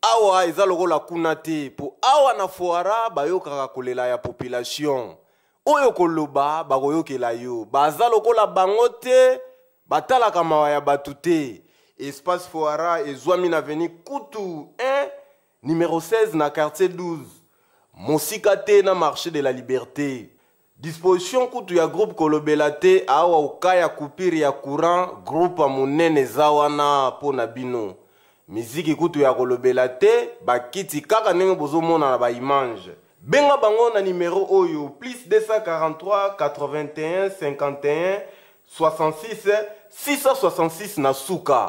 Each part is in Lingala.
awa eza lokola kuna te mpo awa na foara bayokaka kolela ya population oyo koloba bakoyokela yo baza lokola bango te batalaka mawa ya bato te espace foara ezwami na veni kutu 1 numero 16 na quartier 12 mosika te na marché de la liberté Disposition kutu ya groupe kolobela te awa oka ya coupure ya courant groupe munene eza wana mpo na bino miziki kutu ya kolobela te bakiti kaka ndenge bozomona na baimage benga bango na nimero oyo plus 243 81 51 66 666 na suka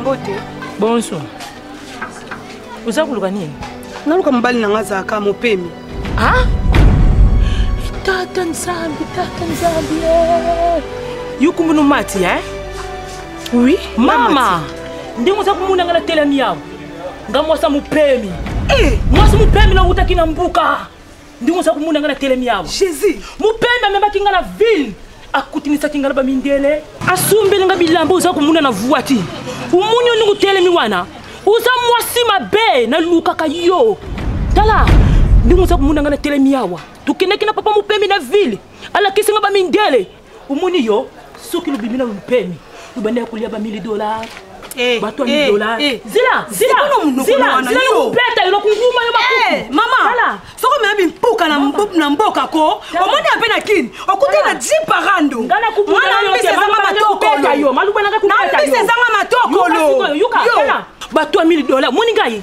mbote bonso oza koluka nini naluka mobali na nga azalaka mopemi tata nzambe tata nzambe yokumbu nomati e eh? oui mama ndenge oza komona nga natelami yawa nga mwasi ya mopemi eh! mwasi mopemi na wutaki na mbuka ndenge oza komona nga na telemi yawa jésus mopemi amemaki nga na ville akutinisaki nga na bamindele asumbeli nga bilamba oza komona na vuati omoni yo ndenge otelemi wana oza mwasi mabe nalukaka yo tala ndenge oza komona nga na telemi yawa tokendaki na papa mopemi na ville alakisi nga bamindele omoni yo soki lobimi na lolupemi lobanda ya kolia ba 1000 dollars eh, bato ya eh, dollars eh. zila zilazilaopeta eloko nguma yo makuku mama soko meya bimpuka na mboka ko omoni ya mpe na kini okuti na jiparando mwana mbisi ezanga matokolo mbisi ezanga matokolo bato ya 1000 dollars omoni ngai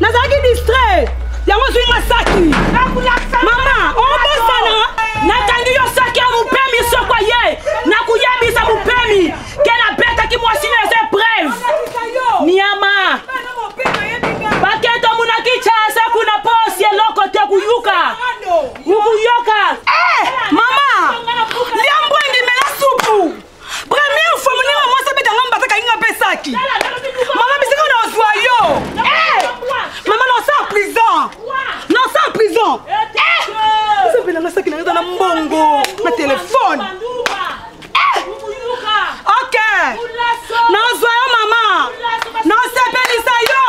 nazalaki distrait yango ozwi nga saki mama obosana nakangi yo saki ya mopemi soko ye nakoyebisa mopemi ke nabetaki mwasi na eza epreuve niama baketa monaki casa kuna posi eloko te kuyuka ukuyoka eh, mama liambwengi mela supu Première fois mon mama mwasi abeta nga mbata kainga mpe saki. Mama bisika na ozwa yo. Eh! Mama na osa prison. Na osa prison. Eh! Osapela nga saki na nga na mbongo na telefone. Eh! OK. Na ozwa yo mama. Na osepelisa yo.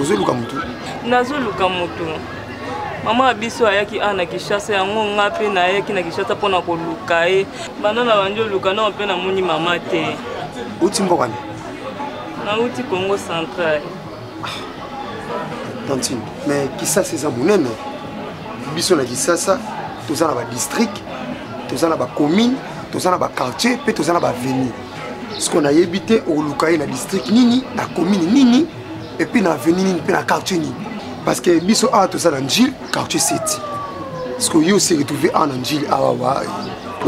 ozoluka motu nazoluka motu mama ya biso ayaki awa na kinshasa yango nga mpe nayaki na kinshasa mpo na koluka ye banda na bandi oluka nao mpe namoni mama te uti mboka ni nauti congo central tantine mais kisasa eza monene biso na kisasa toza na badistrict toza na bacommune toza na baquartier mpe toza na baveni siko nayebi te okoluka ye na district nini na commune nini epuis na avenue nini mpe na quartier nini parce que biso awa toza na njile quartier seti siko yo se retrouve awa na njile awa wa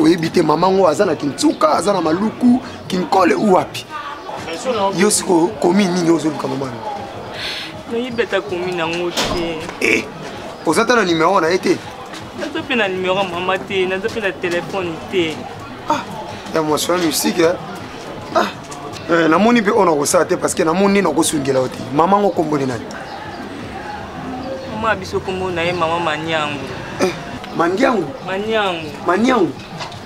oyebi te mama ngo aza na kinsuka aza na maluku kinkole u wapi yo siko commune nini ozoluka mama no nayebi ata commune yango te eh, oza ata na numero na ye te naza mpe na numero mama te naza mpe na telefone te ah ya mwasi wana musique eh? ah eh, namoni mpe oyo nakosala te parce que namoni nde nakosungela yo te mama yango komboli nani mama biso kombo na ye mama maniango eh, mandiango maniango maniango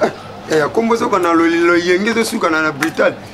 eh, eh, ya kombo ezoka na loyenge ezosukana na brutal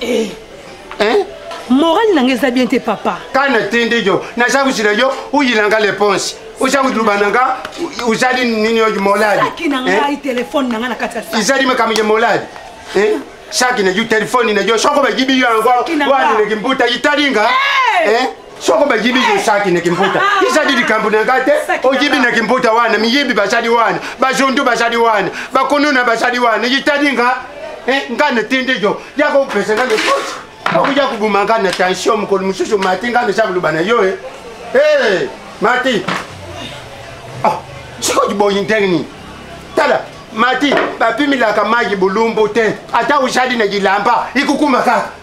eh. hein? morale nanga eza bien te papa kana tindi yo naza kozila yo oyilanga leponse oza kotuluba nanga ozali nini oyo moladi na ngai eh? telefone nanga na kati ya ezali makambo ya moladi eh? saki na yo telefone na yo soko bayibi yo yango wana leki mbuta italinga eh? soko bayibi yosaki na kimputa izali likambo na ngai te oyibi na kimputa wana miyibi bazali wana bazondu bazali wana bakonona bazali wana yitali nga eh, nga natindi yo yaka opesa nga lekoti okoya kobuma nga na tension mokolo mosusu mati nga naza koloba na yo e eh. mati ah, sikoki boyi ndenge nini tala mati bapimilaka mayi bolumbu te ata ozali na yilamba ikokuma kaka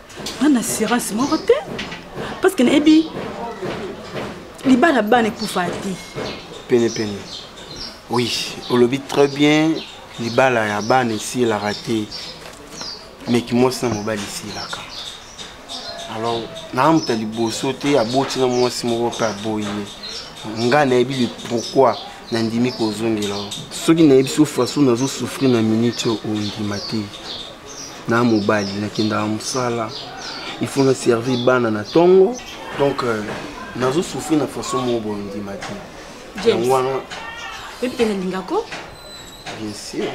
nga na assurance moko te parce que nayebi libala bana ekufa te penepene oui olobi très bien libala ya bana esilaka te meki mwasi na mobali esilaka alors naamuta liboso te aboti na mwasi moko mpe aboyi ye ngai nayebi le pourquoi nandimi kozongela soki nayebi so façon nazosouffrir na minute oyo ondima te na mobali nakendaka mosala il faut na servir bana na ntongo donc euh, nazo souffrir na façon moko boye ondima te James. yango wana oyebi te nalinga ko bien sûr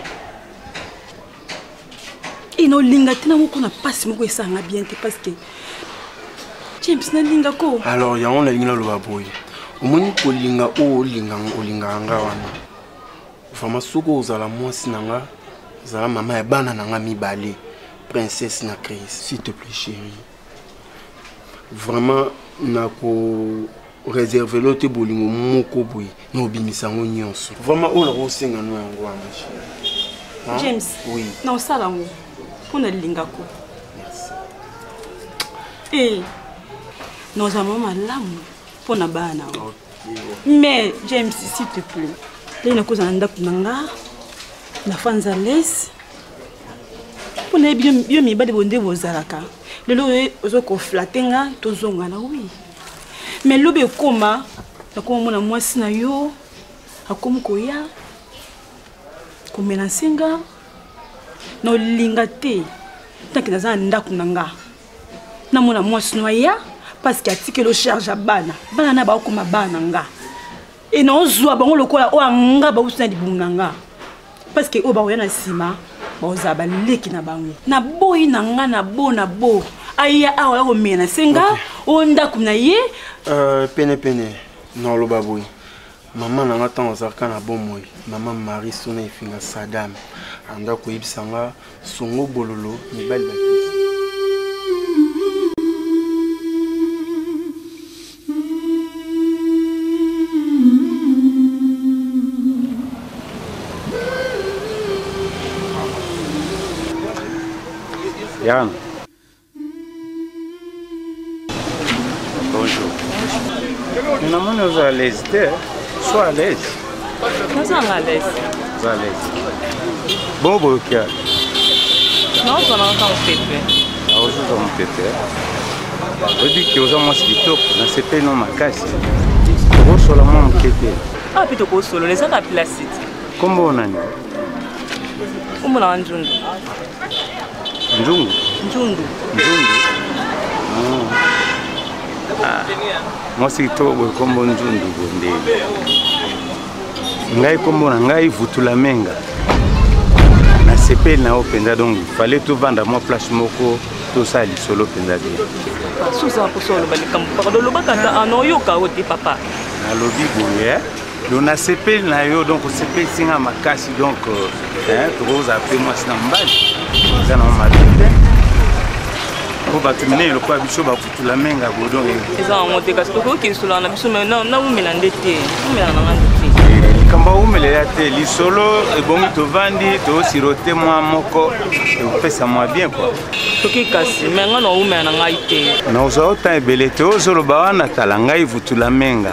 e naolinga te na moko na mpasi moko esanga bien te parce que james nalinga ko alors yango nalingi naloba boye omoni kolinga oyo olinganga olingaka nga wana vraiment soki ozala mwasi na nga zala mama ya bana na nga mibale princesse na crise s'il te plaît chéri vraiment nako réserve lo te bolingo moko boye na obimisa yango nyonso vraiment oyo nakosenga no yango wana hein? james oui. na osala yango mpo na lingako e eh, na oza mama malamu mpo na bana yango mais james s'il te plaît lei nakozala na ndako na nga na fans à l'aise mpo na yebi yo mibali bonde bozalaka lelo oyo ozo koflate nga tozonga na wi mais lobi ekoma nakoma mona mwasi na yo akomi koya komelanse nga na olinga te ntanke naza na ndako na nga namona mwasi no aya parce que atikeli ocharge ya bana bana na baokoma bana nga e naozwa bango lokola oyo anga bauti na libumu na nga parce que oyo bakoya na nsima bakozala baleki na bango naboyi na nga na bo na bo aya awa ya komela na senga oyo ndako na ye euh, penepene naoloba boye mama na nga ntango azalaka na bomoi mama marie sona efinga sadame anda koyebisa nga songo bololo mibali bakisi Yann. Bonjour. Namoni oza à l'aise te. Sois à l'aise. Oza à l'aise. Oza à l'aise. Bon boyokia. Non, oza na kaka mopepe. Ah, oza oza mopepe. Oyebi ke oza mwasi kitoko, nasepeli no makasi. Okosola mwa moke te. Ah, mpe tokosolola eza na plasite. Kombo nani? Kombo na wanzundu. Njungu. Njungu. Njungu. Ah. ah. Mwasi kitoko boye kombo Njungu bonde. Ngai kombo na ngai Vutula Menga. Nasepeli na yo mpenza donc fallait tovanda mwa place moko tosala lisolo mpenza te. Susa mposo oloba likambo pardon olobaka ata anoyoka ah, yo te papa. Nalobi boye. Eh? donc nasepeli na yo donc osepelisi nga makasi donc euh, tokozala mpe mwasi na mobali eza na mabe te po bato minene lokola biso bakutula menga bodon eza yango te kasi tokoki kinsulaka na biso naumela nde te umela nanga nde te eh, likambo aumelela te lisolo ebongi tovandi tosirote mwa moko ekopesa mwa bien kua toki kasi me ngai naumela na ngai te naozwa ota ebele te ozoloba wana tala ngai vutula menga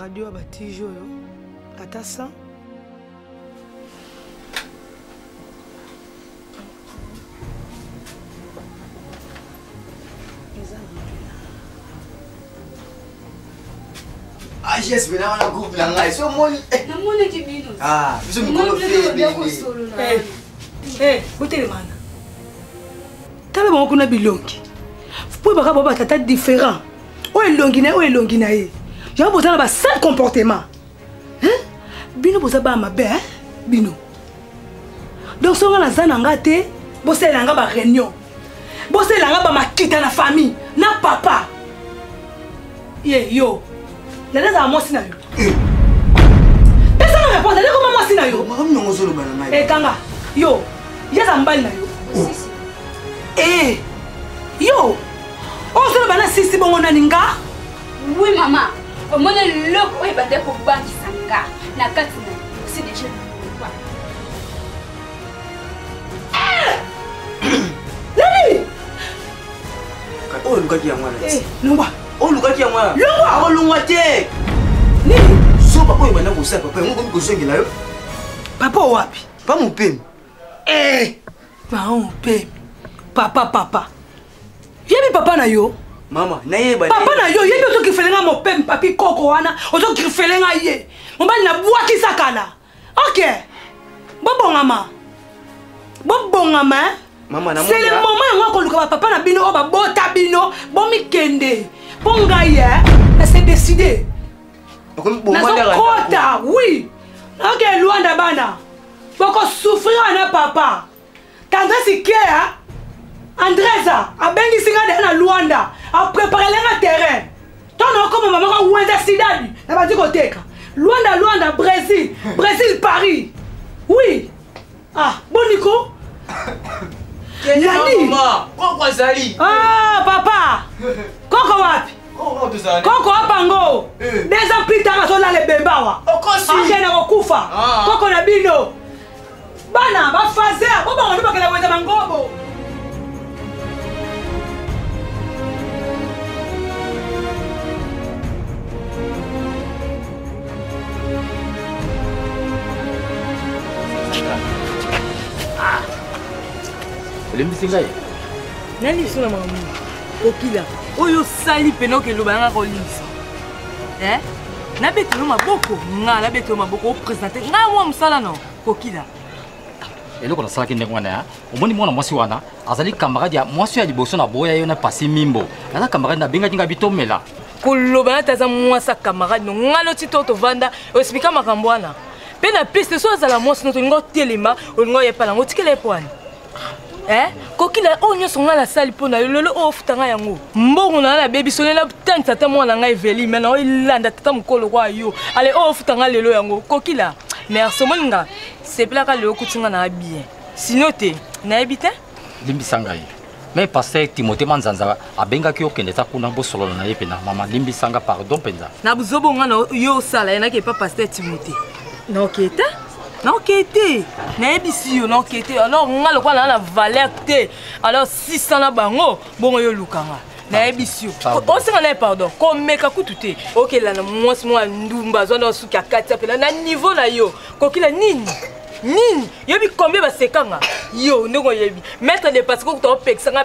radio ya batiji oyo ata 100 ages mpe nawana groupe na ngai so omoni namonaki bino ah, biso mikolo botelemana eh, eh, tala bango kuna bilongi mpo ebaka bao batata différent oyo elongi na ye oyo elongi na ye yango boza na basale comportement bino boza bana mabe eh? bino donc soki nga naza na nga te bosalela nga bareunion bosalela nga bamakita na famille na papa ye yo landa ezala mwasi na yo eh. pesa nga réponse landa ekoma mwasi na yo ekanga eh, yo yaza mbali na yo oh. e yo ozoloba na sisi bongo nani nga wi mama omoni eloko oyo ebanda kobangisa nga na kati na osi deja loba nani oyo olukaki yango wana eh, longwa oyo olukaki yango wana longwa akolongwa te nini soba oyo ebanda kosala papa yango okomi kozongela yo papa wapi pa mopemi Eh! Maman mpe papa papa. Yebi papa na yo. Mama, na yeba. Papa na yo yebi ozo kifele nga mon père papi koko wana, ozo kifele nga ye. Mobali na bwaki sakala. OK. Bobongama. Bobongama. Hein? Mama na mona. C'est le moment yango akoluka ba papa na bino oyo babota bino, bomikende. Mpo ngai, hein, na se décider. Nazokota, oui. Ok, Luanda bana. boko souffrir wana papa tandresse ikea andresa abengisi nga deya na luanda apreparele nga terrain to naokoma mamaka wenza sidadi na bandi koteka luanda luanda brésil brésil paris oui ah boniko nani koko azali ah papa koko wapi koko abango eh. deux ans plus tard azolala ebembe awa akende kokufa ah. koko na bino bana bafazer bobango nde bakenda koyeza mangobo ah. olembisi ngai nani biso na makambo nini kokila oyo osali mpena oke eloba nanga kolingisa eh? nabetelo maboko nga nabetelo maboko opresente ngai mwa mosala no kokila eloko nasalaki ndenge wana ya omoni mwana mwasi wana azali camarade ya mwasi ya liboso na boya yo na pasi mimbo aza camarade nabengaki ngai bitomela koloba nati aza mwasi ya camarade no ngai noti to tovanda oexplika makambo wana mpe na piste so azala mwasi no tolinga otelema olinga oyepa nango otikela ye po wana eh? kokila oyo oh, nyonso ngai nasali mpo na yo lelo oyo oh, ofuta ngai yango mbongo na ngai nabebiso lelo abutangisa ata mwana na ngai eveli me nao elanda tata mokolo kwa yo ale oyo oh, ofuta ngai lelo yango kokila merci omoni nga sepelaka lelo okuti ngai na bien sino te nayebi te limbisa ngai me paster timote manzanza abengaki yo kende ta kuna bosolola na ye mpena mama limbisanga pardon mpenza na buzobo nga na yo osala ye nake epa paster timote naokee te naokee te nayebisi yo naokee te alors nga lokola naa na valeur te alors 600 na bango bongo yo oluka nga nayebisi yo osenga naye pardon komeka kutu te okela na mwasi mwa ndumba azwa na suki akati apela na niveau na yo kokila nini nini yobi combien basekanga yo ndenge oyebi maître de parce kokuta opekisanga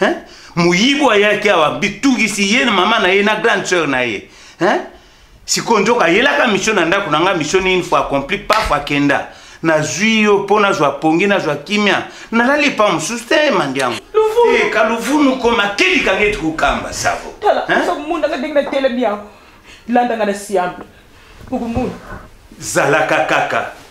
hein? moyibo ayaki awa bitungisi ye na mama na ye na grande sœur na ye hein? sikoyo nzoka ayelaka misio na ndako na ngai misio nini fo accompli pafo akenda nazwi yo mpo nazwa pongi nazwa kimia nalali epa mosusu te mandi yango eh, kaluvunu koma kelikanga eti kokamba savo mundanga ndenge natelemi yango landanga na siambe okomona zalaka kaka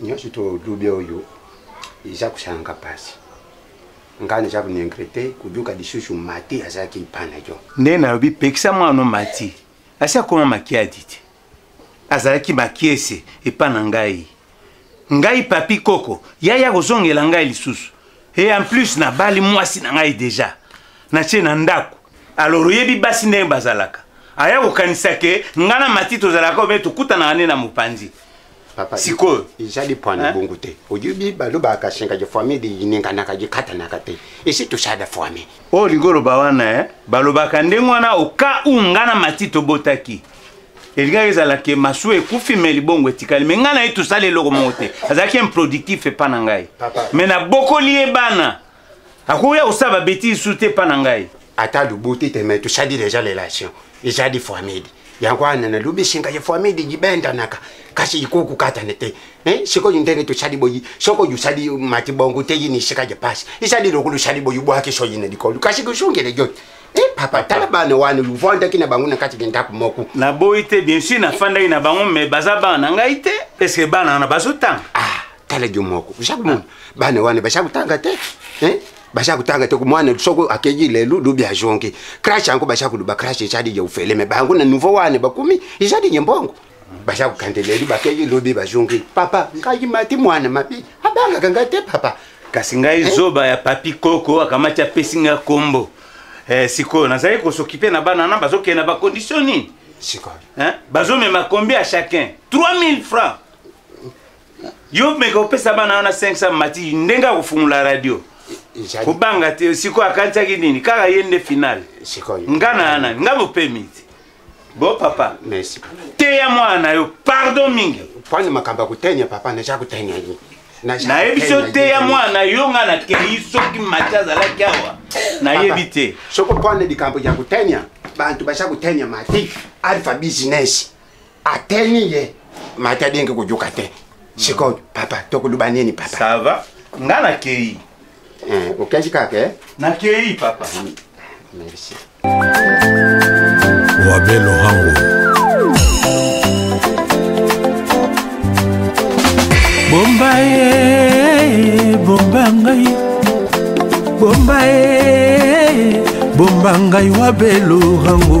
nyonso tolubi oyo eza kosalanga mpasi ngai naza konengre te koyoka lisusu mati azalaki epai na yo nde nalobi pekisa mwana mati asi akoma makiadi te azalaki makiese epa na ngai ngai papi koko yaya kozongela ngai lisusu e en plus nabali mwasi na ngai deja natie na ndako alors oyebi basi ndenge bazalaka aya kokanisa ke ngai na mati tozalaka obe tokutanaka nde na mopanzi papa sikoyo ezali pwana eh? bongo te oyebi balobaka sengaki famille lininganaka likatanaka te esi tosala famille oyo oh, olingi oloba wana e eh? balobaka ndenge wana oka u nga na mati tobotaki elingaki ezala ke masuwa ekufi me libongo etikali me ngai na ye tosali eloko moko te azalaki improductif epa na ngai me nabokoli ye bana akoya kosala babetise lisusu te epa na ngai ata lobo te te mai tosali deja relation eza di famidi yango wana nalobi esenga ya famidi gibendanaka kasi ikoki kokatana te eh, sikoyo ndenge tosali boyi soko yosali mati bongo te yini esika ya pasi ezali lokola osali boyi bwaki soyi na likolo kasi kosongele yo eh, papa tala bana wana luvandaki na bango na kati ya ndako moko naboyi te bien sur nafandaki na bango mai baza bana na ngai te eske bana wana bazotanga ah. tala jo moko oshaka mona bana wana bashaka kotanga te eh? bashaka kotanga te mwana soko akeyi lelo lobi azongi crash yango bashaka koloba crash ezali ya ofele me bango na nouveau wana bakomi ezali ya mbongo baza kokende lelo bakeyi lobi bazongi papa ngai mati mwana mabe abangaka ngai te papa kasi ngai eh? zoba ya papi koko akamati apesi ngai kombo eh, sikoyo nazali kosokipe na bana na bazokende na bakondition nini sikoyo eh? bazomema kombi ya chacun 3000 francs yo meka opesa bana wana 500 mati ndenge akofungola radio kobanga te sikoyo akanisaki nini kaka ye nde finale nga na ya nani nga mopemi te bo papa merci teya mwana na yo pardon mingi pwani makambo ya kotenya papa naza kotenya ye nayebi so teya mwana yo nga nakei soki mati azalaki awa nayebi te soki pwani likambo ya kotenya bantu baza kotenya mati alpha business ateni ye mata denge kojoka te sikoyo papa tokoluba nini papa ça va nga nakei eh, okendi kaka eh? nakei papa mm. merci wabe lohango bomba ye bomba ngai bomba ye bomba ngai wabe lohango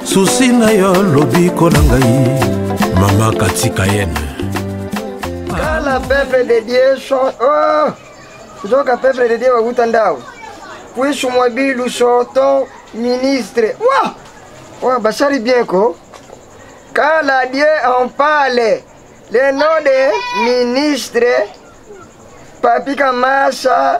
susi na yo lobiko na ngai mama katika yene kala peuple de dieu so oh! nzoka peuple de dieu bakuta ndao puisu mwa bilu soto ministre wa oh, basali bien ko kala dieu en parle le nom de ministre papi kamasa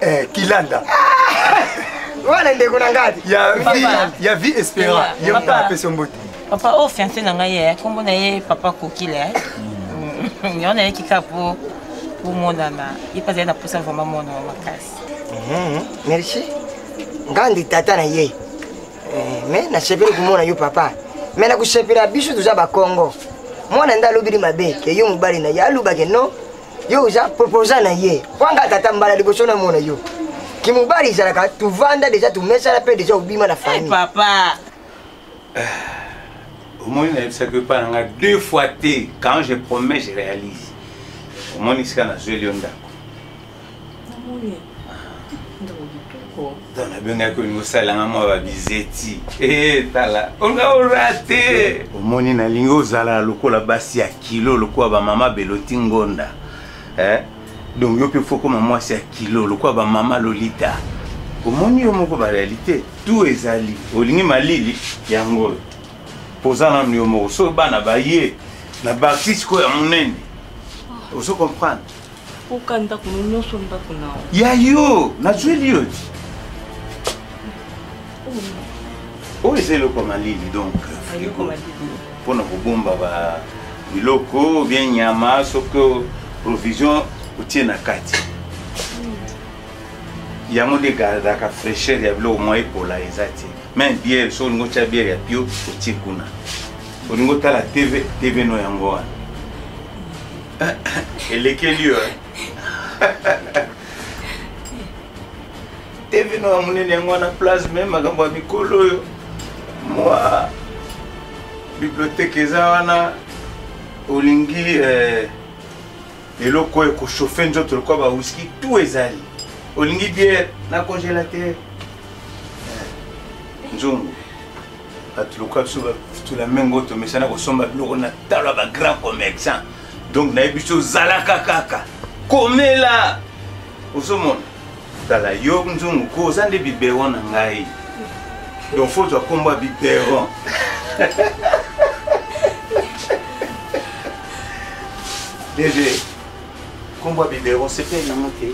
eh, kilanda wana ndeko na ngati ya vie espera ye moto apesi mbote papa oyo oh, fiance na ngai ye eh, nkombo na ye papa kokile eh. mm. yango nayeki kaka mpo bomonana ye mpe azali na mposa vraimen monana makasi mm-hmm. merci ngandi tata na ye eh, me nasepeli komona yo papa me nakosepela biso toza bakongo mwana nde alobeli mabe ke yo mobali na ye alobake no yo oza proposa na ye kwanga tata mbala liboso na mona yo kimobali ezalaka tovanda deja tomesana mpe deja obima na famille papa omoni nayebisaki epai na ngai deux fois te quand je promets je réalise omoni sika nazweli yo ndako to nabengaki olingi osalanga mwa babizeti eh, tala olinga orate omoni nalingi ozala lokola basi ya kilo lokola bamama beloti ngonda eh? donc yo mpe fokoma mwasi ya kilo lokola bamama lolita omoni yo moko barealité tout ezali olingi malili yango oyo poza nanu yo moko so bana baye na basi sikoyo ya monene ozo comprendre Oka ndako no nyonso ndako na yo. Ya yo, nazweli yo ti. Oyo eza eloko malili donc frigo mpo na kobomba ba biloko bien nyama soki provision otie na kati yango nde egardaka fraîcheur ya biloko mwa epola eza te meme biere soki olingi otya biere ya pio otie kuna olingi otala tv tv no yango wana elekeli yo eh? tevino ya monene yango wana place me makambo ya mikolo oyo mwa biblioteke eza wana olingi eh, eloko oyo ekochauffe nzoto lokola bawiski tout ezali olingi biere na congelateur eh, nzungu bato lokola biso bafutula mengo tomesana kosomba biloko na talo ya bagrand commerçant donc naye biso ozalaka kaka komela ozomona tala yo nzungu ko oza nde biberon na ngai donc fo ozwa nkombo ya biberon dede nkombo ya biberon sepeli nango te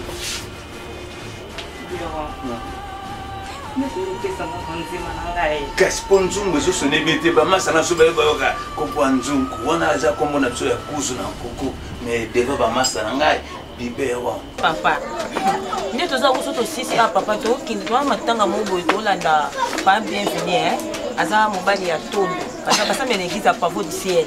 kasi mpo nzungu ezosona ebe te bamasa na biso baye bayoka kokwa nzungu wana aza nkombo na biso ya kuzu na nkuku me deva bamasa na ngai bibero papa nde toza koso tosisi a ah, papa tokende toa matanga moko boye tolanda pa bienveni eh. aza mobali ya tondo basambela eglise ya pavo du ciel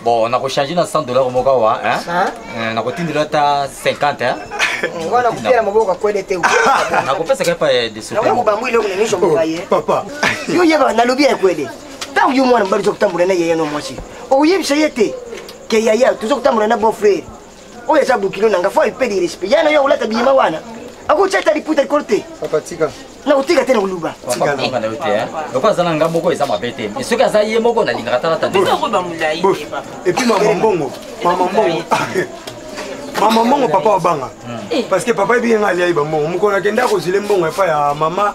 bon nakochange na 100 dollar moko awa eh, nakotindela ata 50 eh. wana kopela maboko akwede te nakopesaka epa desoobambu eloko na nyonso moka ye papa yo yeba nalobi ya ekwede ntango yo mwana mobali oza kotambola na yeye no mwasi okoyebisa ye te ke yaya toza kotambola na bon frere oyo eza bokilo na nga fo ayipe de respect yana yo olata biyema wana akotia ata liputa likolo te na kotika te na koluba loko aza na nga moko eza mabe te soki aza ye moko nalingaka talata te epuis mama mbongo mama mbongo mama mbongo papa wabanga hmm. parce que papa ebiyenga aliai bambongo mokolo akenda akozile mbongo epai ya mama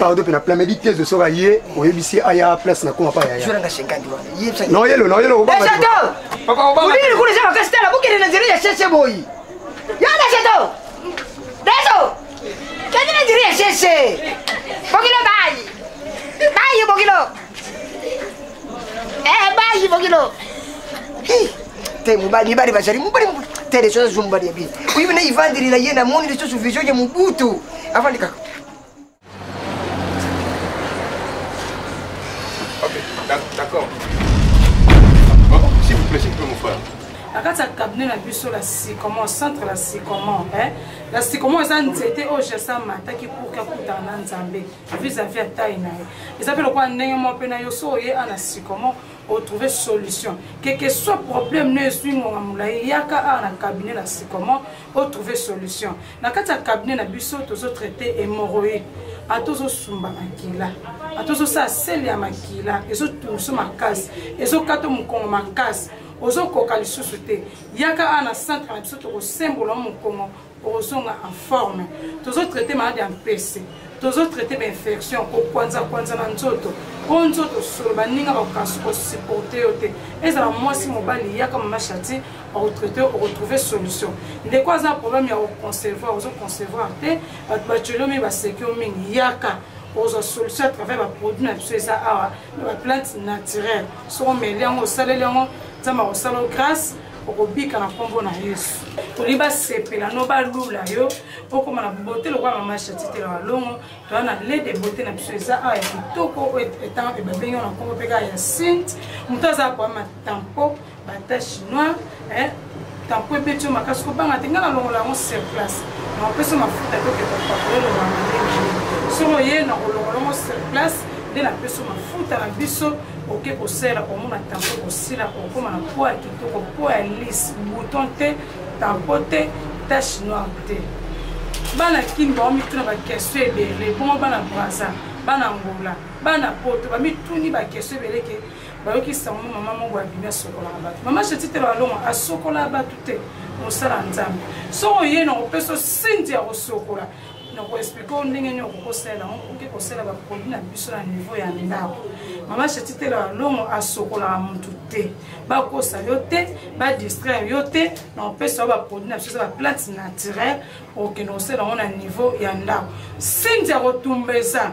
pardon mpe na plan medi te ezo soka ye oyebisi aya place nakoma pa yayanaoyelo naoyelo obaolili kuna eza makasi tala bokende na nzela ya sheshe boyi yo deseto deso kende na nzela ya sheshe bokilo bayi bayi bokilo eh, bayi bokilo te mobali mibali bazali mobali te deso azwa mobali ya bini oyebina ivandeli na ye namoni lisusu vision ya mobutu avandi kaka Ok, d'accord. S'il vous plaît, s'il vous plaît, mon frère. na kati ya cabinet na biso la sycomore centre la sycomore eh? la sycomore eza nzete oyo jesus amataki pour kakutana na nzambe vis-à-vis ya tai na ye eza mpe lokola ndenge moko mpe na yo so oye ana sycomore otrouve solution keke soit problème no eswi ngonga molai yaka awa na cabinet la sycomore o trouver solution na kati ya cabinet na biso tozo traite hémorroïde ata ozosumba makila ata ozosala sele ya makila ezotungusu makasi ezokata mokongo makasi ozokoka lisusu te yaka awa na centre na biso tokosembola o mokongo okozonga en forme tozotraite malade ya mpese tozotraite bainfection kokwanzakwanza na nzoto o nzoto solo baninga bakokansi kosupporte yo te ezala mwasi mobali yaka mama shati retraité oretrouve solution ndeko aza problème ya oconcevoir ozo concevoir te bato batyolomi baseki yo mingi yaka ozwa solution à travers baproduit na biso eza awa na baplante naturelle soki omeli yango osaleli yango nzambe akosala yo grâce okobika na nkombo na yesu toli basepela no balula yo okoma na bote lokola mama shatitela balongo toya na lede bote na biso eza awa ya kitoko oyo ebengi yo na nkombo mpe kaka ya sinte moto aza koyama tampo banta chinois eh, tampo ebeti yo makasi kobanga te ngai nalongola yango sur place nakopesa yo mafuta te okende kopakole lobanga ndenge soki oye nakolongola yango sur place nde napesa mafuta na biso oke kosala omona tampo kosila okokoma na po ya kitoko po ya lise bouton te tampo te tache noire te bana kini bango mituna bakestio ebele bongo bana braza bana ngola bana poto bamituni bakestio ebele ke bayoki sango mama moko abimi asokolaka bato mama jetite balonga asokolaka bato te mosala nzambe soko ye na kopesa sinti ya kosokola na koexplike o ndenge nini okoki kosalela yango okoki kosala baproduit na biso na niveau ya ndako mama jetite balongo asokolaka motu te bakosa yo te badistraire yo te na kopesa yo baproduit na biso eza baplante naturelle okokende kosala yango na niveau ya ndako sinti ya kotumba eza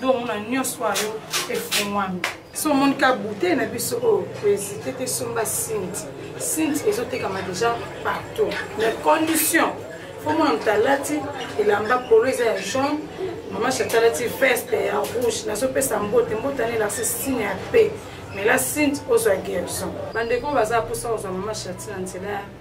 donc omona nyonso oyo efungwami so omoni ka bouteille na biso oyo koezite te somba sinti sinti ezotekama déjà partout mais condition fo mwana moto alati elamba polo eza ya jaune mama chata alati veste ya rouge nazopesa mbote mbote ana elakisi signe ya pe mais la sinti ozwa guerison bandeko baza mposa kozwa mama chati na nzela ya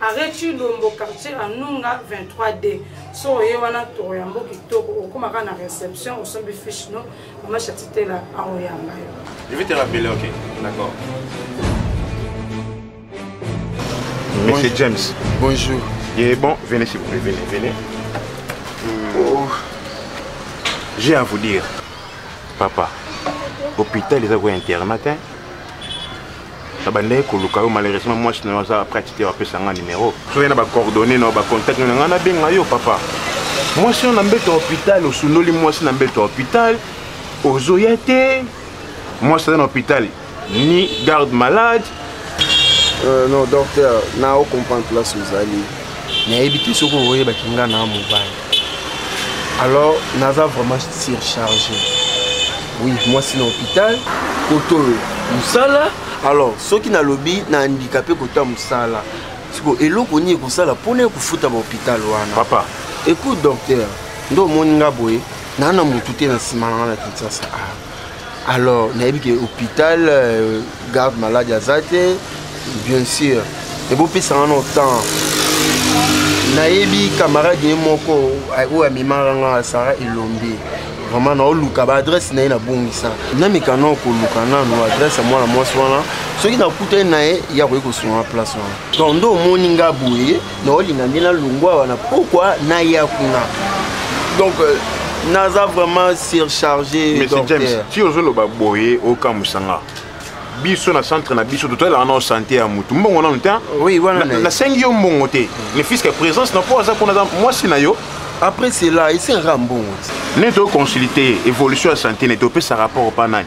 arret chilombo quartier anunga 23 d so oye wana toro yango kitoko okomaka na réception osombi fiche no mama chatitela aoyamba yo je vais te rappeler ok d'accord monsieur bon, james bonjour et bon venez s'il vous plaît venez venez oh. j'ai à vous dire papa hôpital eza koya internat hein? nabandaki koluka yo malheureusement mwasi na yo aza prête te bapesa nga numero soki na bacoordonne na yo bacontact na ngai nabenga yo papa mwasi oyo na mbeto ya hôpital osundoli mwasi na mbeto ya hôpital ozoya te mwasi aza na hôpital ni garde malade euh, non docteur na ocomprendre place ozali nayebi te soki oyebaki nga na mobali alors naza vraiment surcharge oui mwasi na hôpital koto mosala alors soki nalobi na handikape kota mosala siko eloko nini ekosala mpona ekofuta bahôpital wana papa écoute docteur nde omoni nga boye naa na motu te na nsima na nga na kinsasa ah. alors nayebi ke hôpital euh, garde malade aza te bien sûr ebopesanga no temps nayebi camarade ye moko oyo amemaka nga sara elombe vraiment naoluka baadresse na ye nabongisa nameka nao koluka nano adresse ya mwana mwasi wana soki nakutani na ye ye akoki kosunga place wana donc nde omoni nga boye naolinga nde nalongwa wana pourkua naya kuna donc euh, naza vraiment surchargé monsieur james ti ozoloba boye okamwisa nga biso na centre na biso totalelaka nao sante ya motu mbongo nanu te nasengi yo mbongo te le fiske présence na mpo aza kuna aza mwasi na yo après cela esengaka mbongo te neti oconsulte évolution ya sante neti opesa rapport mpa nani